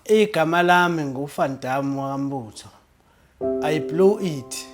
Igama lami nguVan Damme wakambutho. I blew it.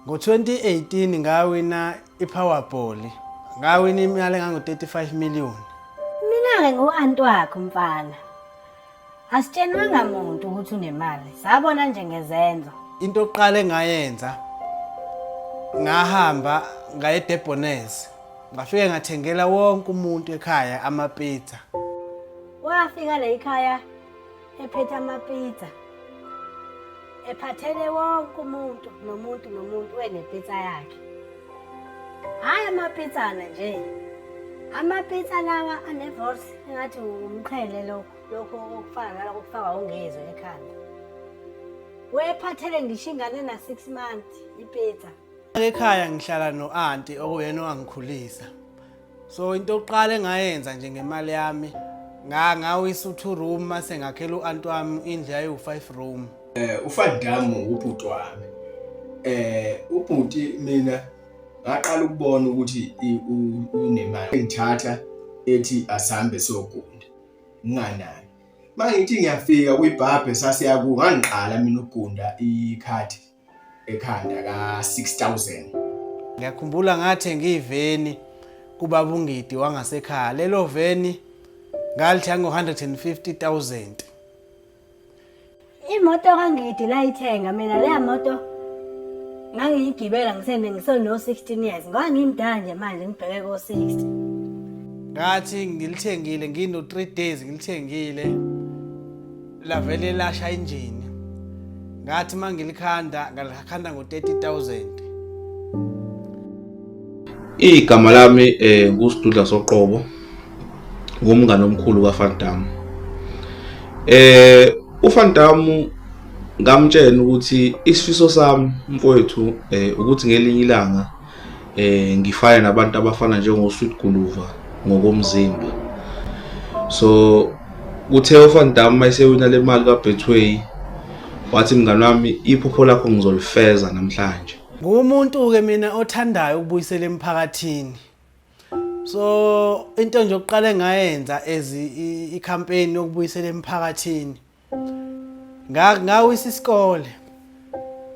Ngo-2018 ngawina i-Powerball. Ngawina imali engango-35 million. Mina-ke ngu-anti wakho mfana. Asitshenwanga muntu ukuthi unemali. Sabona nje ngezenzo. Into yokuqala engayenza ngahamba ngaye eDebonez. Ngafike ngathengela wonke umuntu ekhaya amapizza. Wafika la ekhaya ephethe amapizza. Ephathele wonke umuntu nomuntu nomuntu wenepizza yakhe. Hhayi amapitsana nje. Amapitsa lawa anevorce engathi umqhele lo lokho okufana nalokho okufaka ungezwe ekhanda. Wephathele ngisho ingane na 6 months ipitsa. Ekhaya ngihlala no-anti okuyena owangikhulisa. so into yokuqala engayenza nje ngemali yami ngangawisa u-two room mase ngakhela u-anti wami indlu yayiwu-five room um eh, ufadamu ngubhuti wami um ubhuti mina ngaqala ukubona ukuthi unemali engithatha ethi asihambe siyogunda nginganani uma ngithi ngiyafika kwibhabhe sasiyaku ngangiqala mina ukugunda ikhathi ekhanda ka 6000 ngiyakhumbula ngathe ngiyiveni kubaba ungidi wangasekhaya lelo veni ngalithenga ngo 150000 imoto kangidi layithenga mina leya moto ngangiyigibela ngisene ngiseno 16 years ngoba ngimdala nje manje ngibheke ko 60 ngathi ngilithengile ngino 3 days ngilithengile lavele lasha injini ngathi uma ngilikhanda ngalikhanda ngo-30000 igama lami um eh, ngusidudla soqobo ngumngane omkhulu kafantamu um eh, ufantamu ngamtshela ukuthi isifiso sami mfowethu um ukuthi ngelinye ilanga eh ngifane nabantu abafana njengo Sweet Guluva ngokomzimba so kuthe uFan Damme mayisewina le mali ka Betway wathi mngani wami iphupho lakho ngizolifeza namhlanje ngumuntu ke mina othandayo ukubuyisela emphakathini so into nje okuqale ngayenza as i campaign yokubuyisela emphakathini ngawisa isikole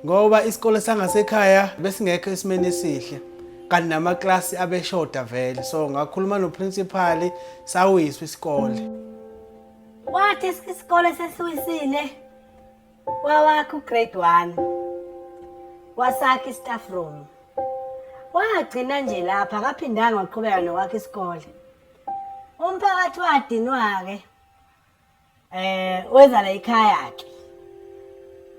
ngoba isikole sangasekhaya besingekho esimeni esihle kanti namaklasi abeshoda vele so ngakhuluma noprincipali sawiswa isikole wathi isikole sesiwisile wawakha ugrade one wasakha istaff room wagcina nje lapha akaphindanga waqhubeka nokwakha isikole umphakathi wadinwa-ke eh weza la ikhaya ke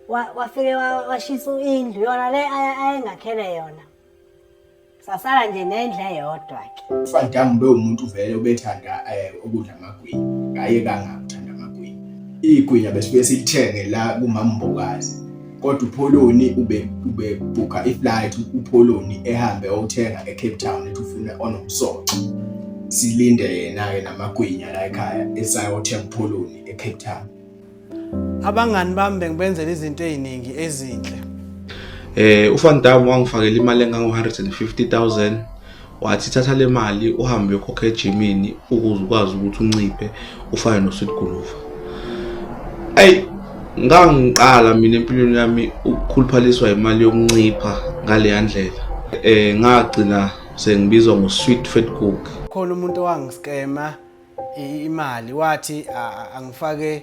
wafike washisa indlu yona le ayengakhele yona sasala nje nendle yodwa ke ufadam be umuntu vele ubethanda eh, ukudla amagwinya ngaye kangakuthanda amagwinya igwinya besifike silithenge la kumambokazi kodwa upholoni ube ube booka iflight upholoni ehambe othenga eCape Town ethi ufuna onomsoco silinde yena ke namagwinya la ekhaya esayothenga upholoni eCape Town abangani bami bengibenzela izinto eziningi ezinhle eh uFan Dam wangifakela imali engango 150000 wathi thatha le mali uhambe uyokhokha ejimini ukuze ukwazi ukuthi unciphe ufane nosweet guluva ayi ngangiqala mina empilweni yami ukukhuluphaliswa imali yokuncipha ngaleya ndlela um ngagcina sengibizwa ngosweet fat cook khona umuntu owangiskema imali wathi angifake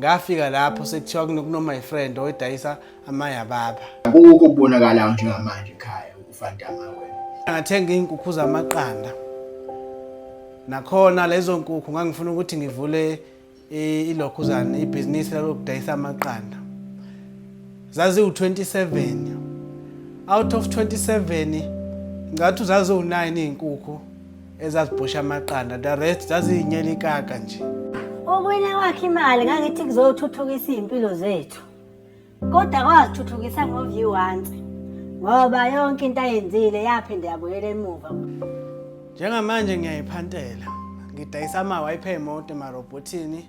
ngafika lapho sekuthiwa kuno my friend oyidayisa amaya baba akukho kubonakalayo njengamanje ekhaya ufantama wena ngathenga izinkukhu zamaqanda nakhona lezo nkukhu ngangifuna ukuthi ngivule ilokhuzana ibhizinisi lokudayisa amaqanda zaziwu-27 out of 27 ngathi uzaziwu-9 iy'nkukhu ezazibhosha amaqanda the rest zaziyinyela ikaka nje okwena kwakhe imali ngangithi kuzothuthukisa iy'mpilo zethu kodwa kwazithuthukisa ngoviyu once ngoba yonke into ayenzile yaphinde yabuyela emuva njengamanje ngiyayiphantela ngidayisa ama-wipe emoto emarobhothini